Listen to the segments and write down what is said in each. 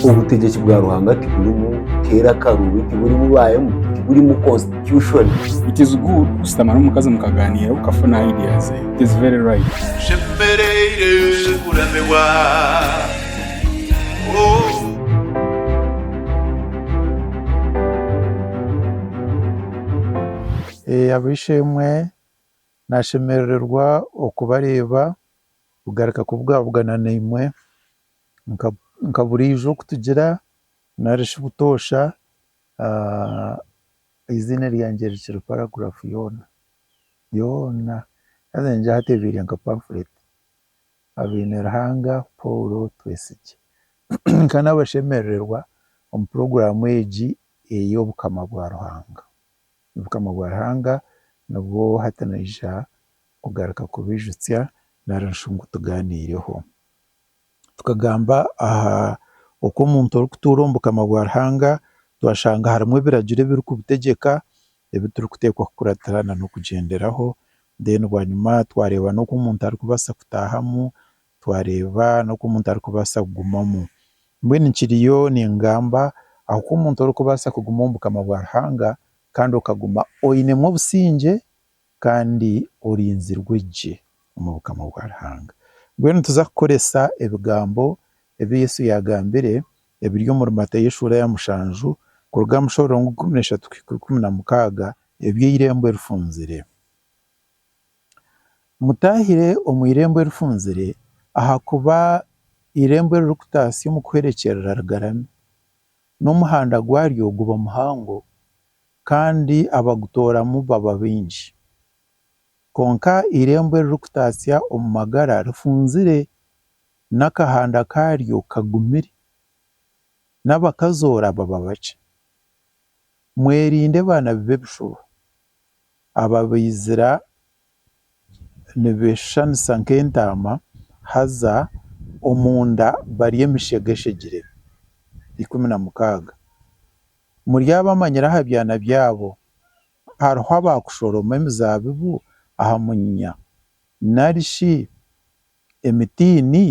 Obutegyeki bwa Ruhanga tiburimu keera akaruubi, tiburimu baayemu, tiburimu constitution. It is good kushutama n'omukazi mukagaaniira okafuna idea ze. It is very right. Nshemereire kuramirwa oh. Ab'eishe-emwe, nashemerererwa okubareeba. kugaruka kubugabugana naimwe nka buriijo okutugira nari shi butoosha eiziina ryangye rikiri paragraph yoona yoona haza nigira ngu hateebeire nka pamphlet Habeine Ruhanga Paul Twetsigye nka n'abashemerererwa omu program egi ey'obukama bwa Ruhanga, obukama bwa Ruhanga nibwo hati naija kugaruka kubijutsya nari shi ngu tugaaniireho. Tukagamba aha oku omuntu orikutuura omu bukama bwa Ruhanga, twashanga harimu ebiragiro ebirikubutegyeka, ebi turikuteekwa kukuratira na n'okugyenderaho, mbwenu bwanyima twareeba n'oku omuntu arikubaasa kutaahamu, twareeba n'oku omuntu arikubaasa kugumamu. Mbwenu nkiriyo ningamba aha ku omuntu orikubaasa kuguma omu bukama bwa Ruhanga kandi okaguma oinemu obusingye kandi orinzirwe gye omu bukama bwa Ruhanga. Mbwenu nituza kukoresa ebigambo ebi Yesu yaagambire ebiri omuri Matayo eshuura ya mushanju kuruga aha mushororongo ikumi na ishatu kuhika ikumi na mukaaga eby'eirembo erifunzire. Mutaahire omu eirembo erifunzire ahakuba eirembo eririkutaasya omu kuhwerekyerera rigarami, n'omuhanda gwaryo guba muhango, kandi abagutooramu baba baingi. Kwonka eirembo eririkutatsya omu magara rifunzire n'akahanda kaaryo kagumire, n'abakazoora baba bakye. Mwerinde baanabi b'ebishuba, ababaizira nibeeshushanisa nk'entaama, haza omunda barye emishegeshegire. Ikumi na mukaaga, Muryabamanyira aha byana byabo. Hariho abaakushoroma emizaabibu aha munyinya, nari shi emitiini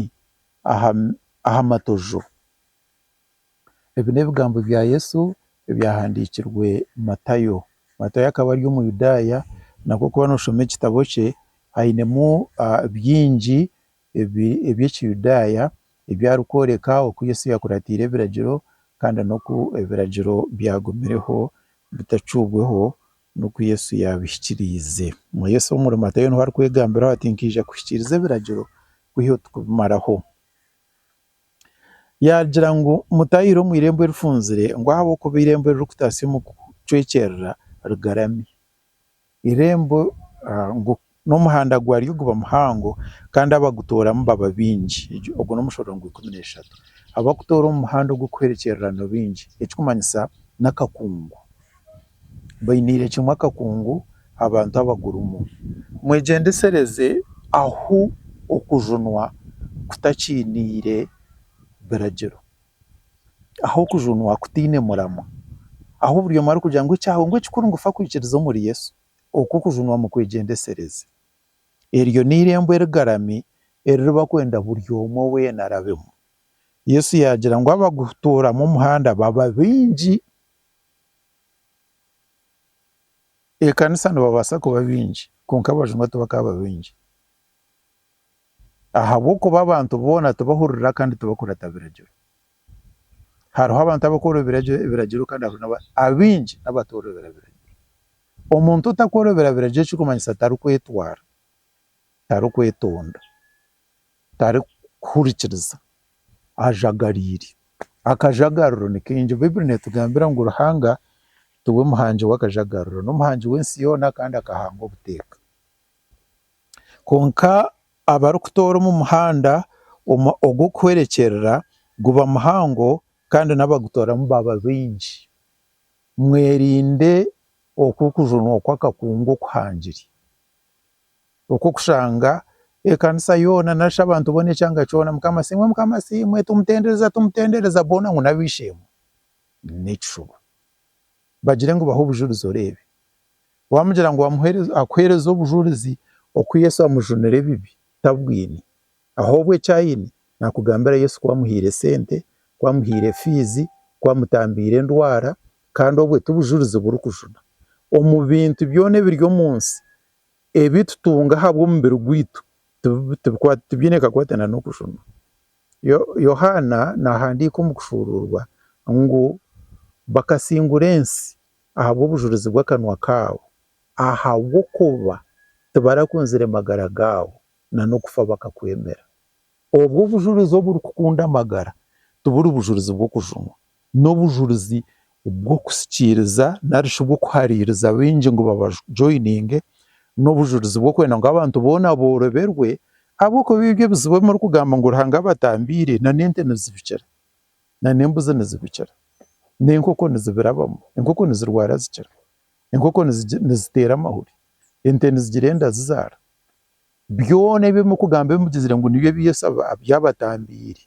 aha matojo? Ebi n'ebigambo bya Yesu ebyahandiikirwe Matayo. Matayo akaba ari Omuyudaaya nabwo waaba nooshoma ekitabo kye ainemu bingi eby'Ekiyudaaya ebi arikworeka oku Yesu yaakuratiire ebiragiro kandi n'oku ebiragiro byagumireho bitacuubweho n'oku Yesu yaabihikiriize. Yesu omuri Matayo niho arikwegambiraho ati, Nkaija kuhikiiriza ebiragiro kwiha oku kubimaraho. Yaagira ngu, Mutaihire omu irembo erifunzire, ngu ahabw'okuba irembo eririkutasya omu kucwekyerera rigarami. Irembo ngu n'omuhanda gwaryo guba muhango kandi abagutooramu baba baingi, ogwo n'omushororo ngu ikumi n'eshatu. Abakutoora omu muhanda ogw'okuhwerekyerera nibaingi, ekirikumanyisa n'akakungu. bainiire kimwe akakungu abantu abagurimu. Mwegyendesereze ahu okujunwa kutakiiniire biragiro, ahu okujunwa kutaine muramwa, ahu buri omwe arikugira ngu ekyawe ngu ekikuru ngu fa kwikiriza omuri Yesu, okwo okujunwa mukwegyendesereze. Eryo n'eirembo erigarami eriri bakwenda buri omwe weena arabemu. Yesu yaagira ngu abagutuuramu omuhanda baba baingi. Ekanisa nibabasa kuba bingi kwonka abajungu tibakaba bingi ahabwokuba abantu boona tibahurira kandi tibakurata biragiro. Hariho abantu abakora ebiragiro kandi abingi nabatorobera biragiro. Omuntu otakorobera biragiro ekirikumanyisa tarikwetwara, tarikwetonda. tarikuhurikiriza ajagariire. Akajagariro nikaingi, baiburi netugambira ngu Ruhanga tiwe muhangi wakajagariro, nomuhangi wensi yoona kandi akahanga obuteeka. Kwonka abarikutoora omu muhanda ogwokuhwerekyerera guba muhango kandi nabagutooramu baba baingi. Mwerinde okwo okujunwa kwakakungu okuhangire. okw'okushanga ekanisa yoona nari shi abantu boona ekyanga kyona mukama asiimwe mukama asiimwe tumutendereza tumutendereza boona ngu n'ab'eishe-emwe n'ekishuba bagire ngu bahe obujurizi oreebe wamugira ngu akuheereze obujurizi oku Yesu amujunire ebibi tabwine ahobwe eki aine nakugambira Yesu ku amuhaire esente ku amuhaire fiizi ku amutambiire endwara kandi obwe tibujurizi burikujuna omu bintu byoona ebiri omu nsi ebi tutunga ahabw'omubiri gwaitu tibiine kakwatana n'okushoma. Yohaana naahandiika omu kushuuruurwa ngu bakasingura ensi ahabw'obujurizi bw'akanwa kaabo, ahabw'okuba tibarakunzire magara gaabo, na n'okufa bakakwemera. Obwo obujurizi oburikukunda amagara tiburi bujurizi bw'okujunwa, n'obujurizi bw'okusikiiriza nari shi bw'okuhariiriza baingi ngu babajoyininge, n'obujurizi bw'okwenda ngu abantu boona boroberwe, ahabw'okuba ebi ebyo ebizibu ebi murikugamba ngu Ruhanga abatambiire, na n'ente nizibikira, na n'embuzi nizibikira, n'enkoko nizibirabamu, enkoko nizirwara zikira, enkoko niziteera amahuri, ente nizigira enda zizaara, byona ebi murikugamba ebi mugizire ngu nibyo ebi Yesu abatambiire,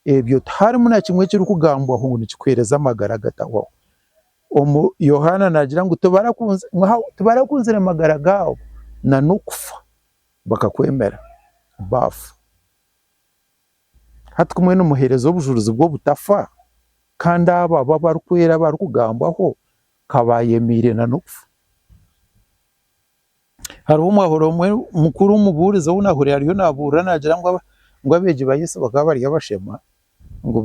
Ebyo tiharimu na kimwe ekirikugambwaho ngu nikikuheereza amagara agatahwaho. Omu, Yohaana naagira ngu, Tibarakunzire amagara gaabo, na n'okufa, bakakwemera, baafa. Hati ku mwe nimuheereza obujurizi bw'obutafa, kandi abo abu abarikwera abarikugambwaho, ka baayemeire na n'okufa. Hariho omwahooro omwe mukuru omubuurizi ou naahurira ariyo naabuurira naagira ngu ngu abeegi ba Yesu bakaba bari abashema, ngu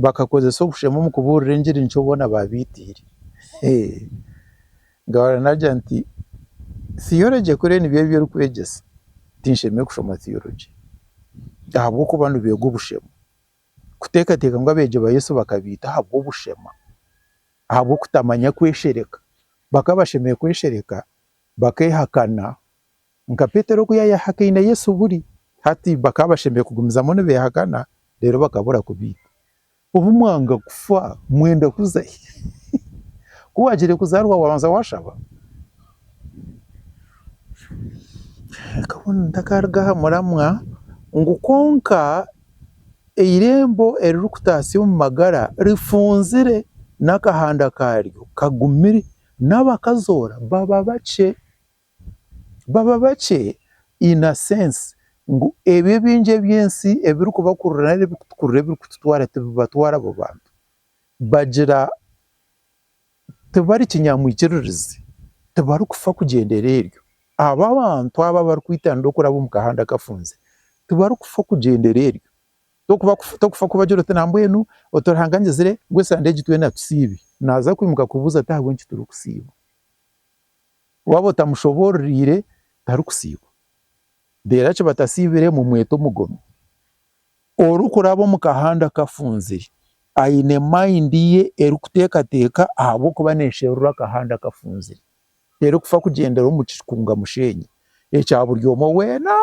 bakakozesa obushema omu kubuurira engiri nikyo boona baabaitiire. Ngahurira naagira nti, Theology kuri nibyo ebi orikwegyesa, tinshemereire kushoma Theology ahabw'okuba nibeega obushema. Kuteekateeka ngu abeegi ba Yesu bakabaita ahabw'obushema? ahabw'okutamanya kweshereka. Bakaba bashemereire kweshereka bakehakana nka Petero oku yayehakaine Yesu buri hati. Bakaba bashemereire kugumizamu nibehakana reero bakabura kubiita. Obu mwanga kufa mwenda kuza hi? Ku waagire kuzaarwa waabanza waashaba? Reka mbwenu ntakaruga aha muramwa ngu kwonka Eirembo eririkutatsya omu magara rifunzire n'akahanda kaaryo kagumire, n'abakazoora baba bakye. Baba bakye in a sense ngu ebyo ebingi ebi ensi ebirikubakurura nari ebirikutukurura ebirikututwara tibibatwara abo bantu. Bagira. tibari kinyamwikiririzi, tibarikufa kugyendera eryo, abo abantu abo abarikwitanira okuraba omu kahanda kafunzire tibarikufa kugyendera eryo, torikufa kubagira oti nambwenu oti Ruhanga angizire ngu esande egi twena tusiibe, naaza kwimuka kubuuza ati ahabw'enki turikusiiba? Waaba otamushoboororeire tarikusiiba, reero eki batasiibire mumwete omugomi. Orikuraba omu kahanda kafunzire aine mayindi ye erikuteekateeka ahabw'okuba neesherura akahanda kafunzire. Terikufa kugyendera omu kikunga musheenyi ekya buri omwe weena,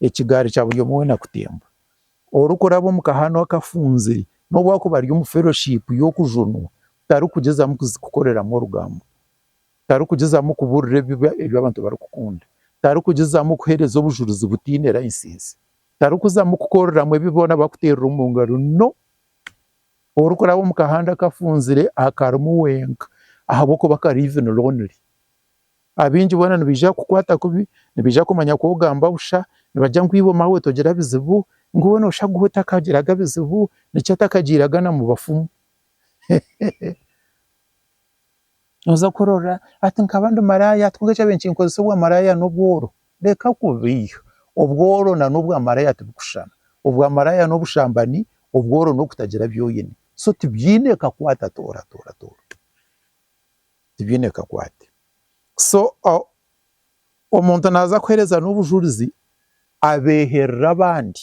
ekigaari kya buri omwe weena kutemba. Orikuraba omu kahanda akafunzire n'obu arikuba ari omu feroshipu y'okujunwa, tarikugyezamu kuzikoreramu orugambo, tarikugyezamu kubuurira ebi abantu barikukunda, tarikugyezamu kuheereza obujurizi butaine layisinsi. Tarikuzamu kukoreramu ebi boona bakuteerire omu ngaro. No! Orikuraba omu kahanda kafunzire akarimu wenka ahabw'okuba kari even lonely. Abaingi boona nibaija kukukwata kubi, nibaija kumanya ku ogamba busha, nibagira ngu iwe maawe togira bizibu, ngu we nooshaga otakagiraga bizibu, nikyo atakagiiraga na mu bafumu. Hehe! noza kurora ati nkaba ndi maraya ati konka kyabaire nikinkozesa obwamaraya nobworo, reka kubi, obworo na nobwamaraya tibikushushana, obwamaraya nobushambani, obworo nokutagira byoine, so tibyine kakwate atooro atooro atooro, tibyine kakwate, so omuntu naza kuhereza nobujurizi abeherera abandi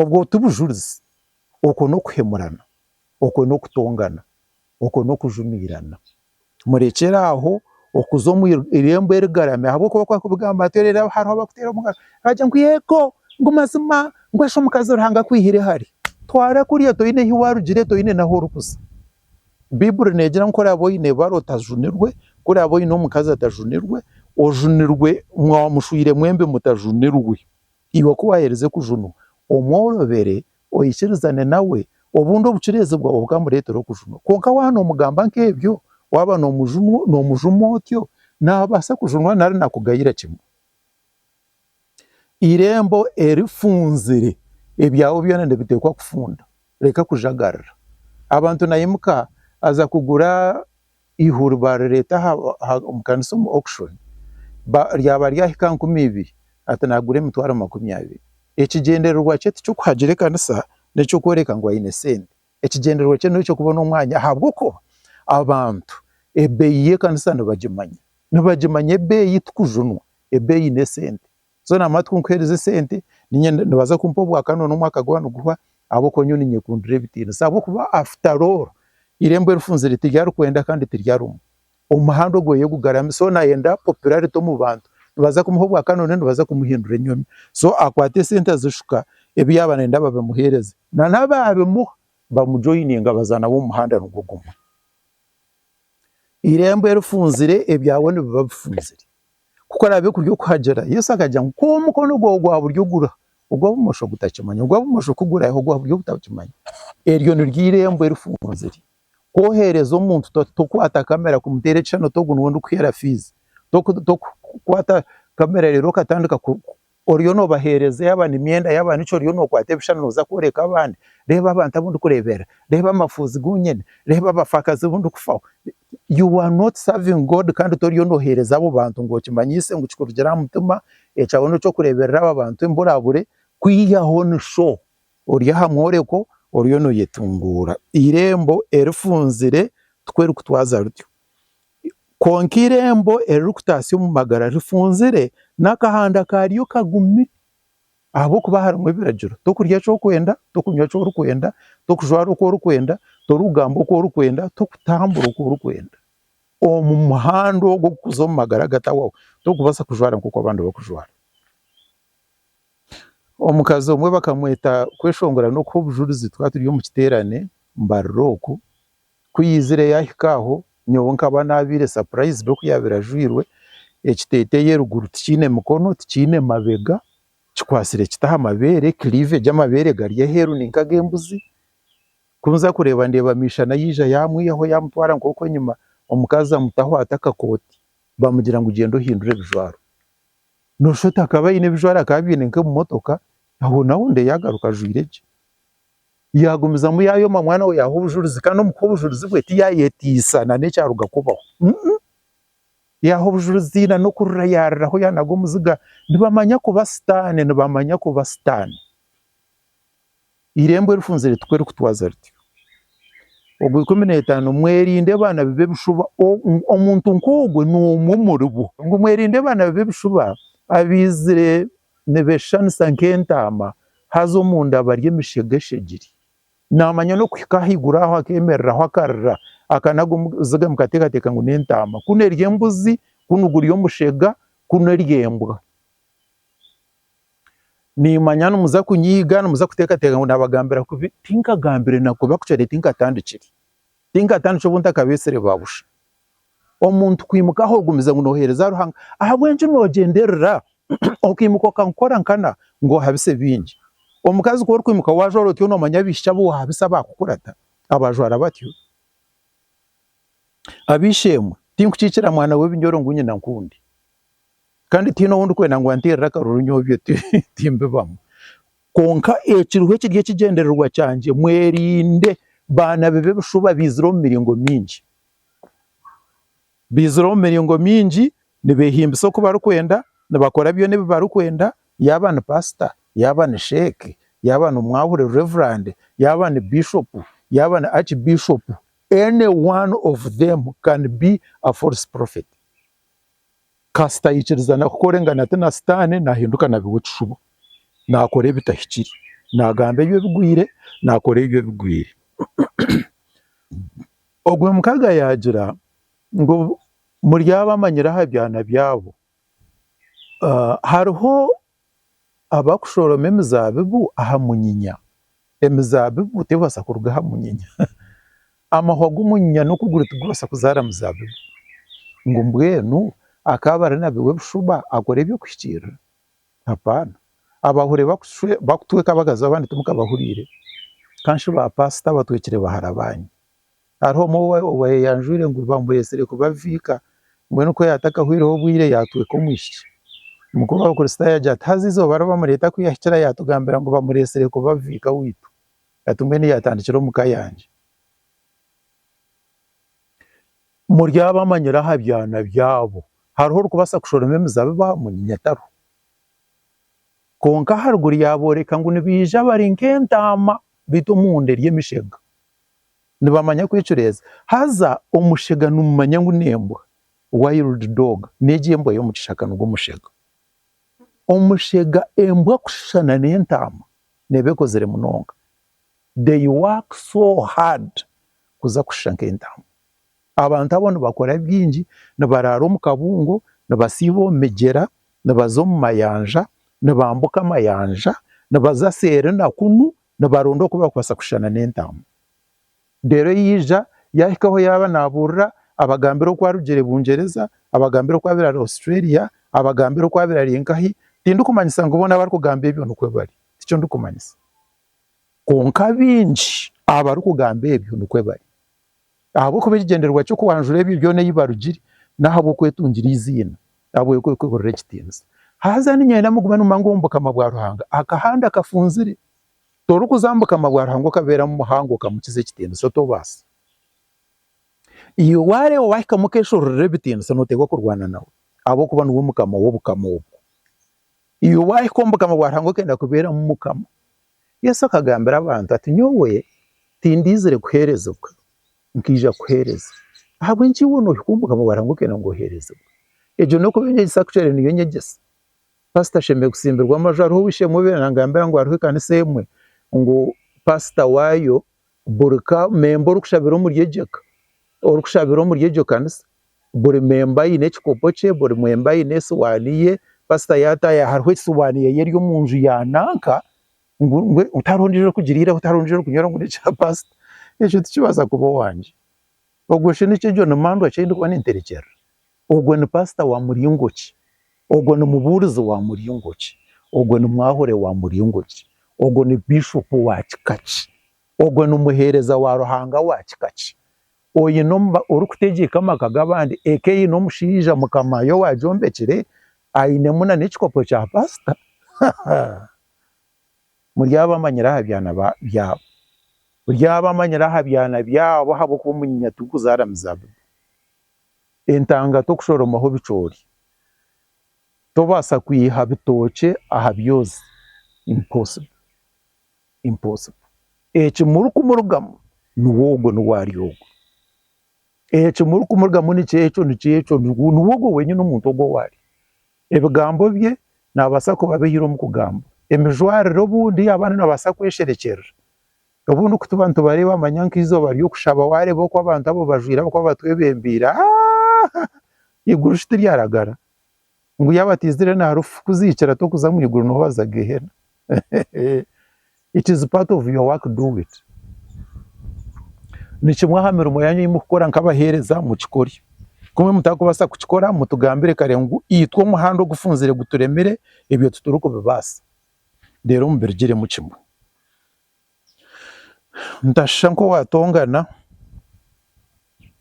Obwo ti bujurizi, okwo n'okuhemurana, okwo n'okutongana, okwo n'okujumiirana. Murekyere aho okuza omu irembo erigarami ahabw'okuba ku barikubigamba hati reero hariho abarikuteera omu ngaro baagira ngu eego ngu mazima ngu eshwe omukazi Ruhanga akwihire hare. Twara kuriya toine ahu waarugire, toine n'ahu orikuza. Baiburi neegira ngu ku oraabe oine ebara otajunirwe, ku oraabe oine omukazi atajunirwe, ojunirwe mwaba mushwire mwembi mutajunirwe. Iwe ku waaherize okujunwa omwe orobere oikirizane nawe, obundi obucureezi bwawe bukamureetera okujunwa. Kwonka waaba noomugamba nk'ebyo, waaba noomujuma otyo, naabaasa kujunwa nari naakugayira kimwe. Eirembo erifunzire, ebyawe byona nibiteekwa kufunda. Reka kujagarira. Abantu naimuka aza kugura eihuri baarireeta omu kanisa omu auction ryaba ryahika aha nkumi ibiri ati naagura emitwaro makumi abiri. Ekigyendererwa kye ti ky'okuhagira ekanisa n'eky'okworeka ngu aine sente. Ekigyendererwa kye n'eky'okubona omwanya ahabw'okuba abantu ebeeyi y'ekanisa nibagimanya. Nibagimanya ebeeyi tikujunwa, ebeeyi n'esente. so namara tikunkuhereza esente ninye nibaza kumpa obwakane ngu nomwaka gwaaba niguhwa ahabw'okuba nyowe ninyekundira ebitiinisa ahabw'okuba after all eirembo erifunzire tiryarikwenda kandi tiryarumwa, omuhanda ogwo ye gugarami so nayenda popularity omu bantu nibaza kumuha obwakane ngu nibaza kumuhindura enyomi so akwate esente azishuka ebi yaaba nayenda babimuheereze na n'abaabimuha bamujoyininga baza nawe omu muhanda nigwo gumwe, eirembo erifunzire ebyawe nibiba bifunzire. Ku araabe kuri okuhagira, Yesu akagira ngu, Ku omukono gwawe ogwa buryo guriho ogwa bumosho gutakimanya, ogwa bumosho ku guriho ogwa buryo gutakimanya. Eryo niryo eirembo erifunzire. Ku oheereza omuntu, tokwata kamera kumuteera ekishushani oti ogu niwe ndikuheera fiizi. Tokukwata kamera reero okatandika oriyo nobahereza yaba nemyenda yaba niki oriyo nokwata ebishushani noza kworeka abandi reeba abantu abu ndikureebera reeba amafuuzi gu nyine reeba abafakazi abu ndikufaho you are not serving God kandi toriyo nohereza abo bantu ngu okimanyise ngu kikurugire aha mutima ekyawe n'okyokureeberera aba bantu emburabure kwihaho ni sho ori aha mworeko oriyo noyetunguura eirembo erifunzire tiku erikutwaza rutyo. Kwonka eirembo eririkutatsya omu magara rifunzire, n'akahanda kaaryo kagumi. Ahabw'okuba harimu ebiragiro, Tokurya eki orikwenda, tokunywa eki orikwenda, tokujwara oku orikwenda, torikugamba oku orikwenda, tokutambura oku orikwenda. Omu muhanda ogwo kukuza omu magara agatahwaho, torikubaasa kujwara nk'oku abandi barikujwara. Omukazi omwe bakamweta kweshongora n'okuha obujurizi twaturi omu kiteerane mbarira oku. Ku yaizire yaahika aho, nyowe nkaba naabaire surprised oku yaabaire ajwairwe. Ekiteeteeyi eruguru tikiine mikono, tikiine mabega, kikwatsire kita aha mabeere, cleavage amabeere gari aheeru ni nk'ag'embuzi. Ku nza kureeba ndeeba Miishana yaija yaamwihaho yaamutwara nk'oku enyima, omukazi amutaho ata akakooti, baamugira ngu gyenda ohindure ebijwaro. Nooshusha oti akaba aine ebijwaro akaba abyaine nk'ebimotoka, aho naho ndeeba yaagaruka ajwaire gye. yagumizamu yayoma mwana we yaha obujurizi kandi omu kuha obujurizi bwe tiyayetiisa na n'ekyaruga kubaho yaha obujurizi na n'okurira yariraho yanaga omuziga nibamanya kuba sitaane nibamanya kuba sitaane. Eirembo erifunzire tirikutwaza rityo, ogwe ikumi n'etaano mwerinde abaana bi b'ebishuba omuntu nk'ogwe n'omwe omuribo ngu mwerinde abaana bi b'ebishuba abaizire Nibeeshushanisa nk'entaama, haza omunda bari emishega eshegire. Naamanya n'okuhika ahaiguru aho akeemereraho akarira, aka nago muziga mukateekateeka ngu n'entaama, kunu eri embuzi, kunu guri omushega, kunu eri embwa. Niimanya nimuza kunyiiga, nimuza kuteekateeka ngu naabagambira kubi, tinkagambire na kubi ahakugira nti tinkatandikire, tinkatandikire obu ntakabeetsire baabusha. omuntu kwimuka ahu ogumize ngu noheereza Ruhanga ahabw'enki noogyenderera okaimuka okakora nkana ngu ohabise baingi? Omukazi ku orikwimuka waajwara otyo noomanya abaishiki abu waahabisa abaakukurata abajwara batyo? Ab'eishe-emwe, tinkukiikira mwana w'ebinyoro ngu nyina nkundi kandi tihaine ou ndikwenda ngu anteerere akaruru nyowe ebyo timbibamu. Kwonka ekiriho ekiri ekigyendererwa kyangye mwerinde baana b'ebishuba abaizire omu miringo mingi. baizire omu miringo mingi nibehimbisa oku barikwenda nibakora byona ebi barikwenda yaaba ni pasita, yaaba ni sheeke, yaaba ni omwahure, reverand, yaaba ni bishop, yaaba ni arch bishop any one of them can be a false prophet kasita ayikiriza na kukora engana ti na sitaane nahinduka na biwe ekishubo nakora ebitahikire nagamba ebyo ebigwire nakora ebyo ebigwire. Ogwo mukaga yaagira ngu muri abo amanyire aha byana byabo, hariho abarikushoroma emizaabibu aha munyinya, emizaabibu tebaasa kuruga aha munyinya, amahwa g'omunyinya n'okuguru tigubaasa kuzaara muzaabibu, ngu mbwenu akaba ari nabi w'ebishuba akora eby'okuhikiirira? Hapana. Abahure bakutweka abagazi abandi timukabahuriire. Ka shi ba paasita abatwekire baharabaanyi. Hariho omwe owayeyanjwire ngu bamuretsire kubaviika, mbwenu ku yaatakahwireho bwire yaatweka omwishiki. Mukuru w'Abakristaayo agira ati, Haza eizooba ri bamureeta ku yahikire yaatugambira ngu bamuretsire kubaviika waitu. Ati, Mbwenu yaatandikira omu ka yangye. Muryabamanyira aha byana byabo. Hariho orikubaasa kushoroma emizabibu aha munyinya? Tariho. Kwonka aharuguru yaabooreka ngu nibaija bari nk'entaama beitu omunda eri emishega. Nibamanya kwecureeza. Haza omushega nimumanya ngu n'embwa, wild dog, n'egi embwa y'omu kishaka nigwo mushega. Omushega embwa kushushana n'entaama neeba ekozire munonga. they work so hard kuza kushusha nk'entaama, abantu abo nibakora bingi, nibaraara omu kabungo, nibasiiba omu migyera, nibaza omu mayanja, nibambuka amayanja, nibaza seeri na kunu nibaronda oku barikubaasa kushushana n'entaama, reero yaija yaahika ahu yaaba naabuurira abagambira oku arugire Bungyereza, abagambira oku abaire ari Australia, abagambira oku abaire ari nkahi, tindikumanyisa ngu boona abarikugamba ebyo nikwo bari, tikyo ndikumanyisa. Kwonka baingi abarikugamba ebyo nikwo bari. Ahabw'okuba ekigyendererwa ky'okwanjura ebyo byona eyi barugire n'ahabw'okwetungira eiziina, ahabw'okweburira ekitiinisa. Haza niinyenda nimuguma nimumanya omu bukama bwa Ruhanga akahanda kafunzire. Torikuza omu bukama bwa Ruhanga okabeeramu muhango okamukiza ekitiinisa, tobaasa. Iwe waareeba owahikamu okeshoroorera ebitiinisa nooteerwa kurwana nawe ahabw'okuba niwe Mukama w'obukama obwo. Iwe waahika omu Bukama bwa Ruhanga okenda kubeeramu Mukama? Yesu akagambira abantu ati, Nyowe tindaizire kuheerezibwa, nkaija kuheereza. Ahabw'enki iwe noohika omu Bukama bwa Ruhanga okenda ngu oheerezibwe? Egyo n'okuba enyegyesa kucwera niyo nyegyesa. Paasita ashemereire kutsimbirwa amaju. Hariho ow'eishe-emwe owabaire naangambira ngu hariho ekanisa emwe ngu paasita waayo buri ka memba orikushabira omuri egyo ka orikushabira omuri egyo kanisa buri memba aine ekikopo kye buri memba aine esiwaani ye pasita yataayaho hariho esiwaani ye eri omu nju ya nanka ngu ngu tihariho ondijo orikugiriiraho tihariho ondijo orikunywera ngu nekya pasita ekyo tikibaasa kuba owangye ogwo shi nikyo egyo nimandwa kyendikuba ninterekyerera. Ogwo ni paasita wa muringo ki? Ogwo ni mubuurizi wa muringo ki? Ogwo ni mwahure wa muringo ki? Ogwo ni biishopu wa kika ki? Ogwo ni muheereza wa Ruhanga wa kika ki? Oine orikutegyeka amaka g'abandi, eka eine omushaija mukamaaye owaagyombekire, ainemu n'ekikopo kya paasita? Haaha! Muryaba amanyire aha byana byabo. Muryaba amanyire aha byana byabo ahabw'okuba omu nyanya tirikuzaaramu zaabu. Entanga tokushoromaho bicoori. Tobaasa kwiha bitookye aha byozi. Impossible. Impossible. Eki muri kumurugamu niwe ogwo niwe ari ogwo. Eki muri kumurugamu ni kyekyo ni kyekyo niwe ogwo wenyine omuntu ogwo ou ari. Ebigambo bye nabaasa kuba abihire omu kugamba. Emijwarire obundi yaaba ari nabaasa kwesherekyerera. Obundi ku tuba nitubareeba manya nk'eizooba ry'okushaba waareeba oku abantu abo bajwaire ahabw'okuba batwebembeire, aahh! Eiguru shi tiryaragara? Ngu yaaba taizire na harufu kukuziikira t'okuza omu iguru niho waza Gehenna. Hehehe! It is part of your work, do it. Ni kimwe aha mirimo yaanyu ei murikukora nk'abaheereza, mukikore. Ku mutakubaasa kukikora, mutugambire kare ngu itwe omuhanda ogufunzire guturemire, ebyo titurikubibaasa. Reero mubirigiremu kimwe. Nitashusha nk'owaatongana,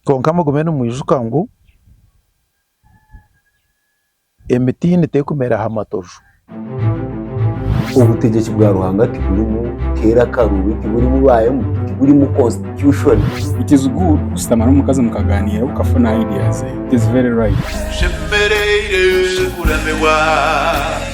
kwonka mugume nimwijuka ngu emitiini terikumera aha matoju. Obutegyeki bwa Ruhanga tiburimu teera akaru, tiburimu baayemu, tiburimu constitution. It is good kushutama n'omukazi mukagaaniira okafuna ideas ze. It is very right. Tushemereire kuramibwa.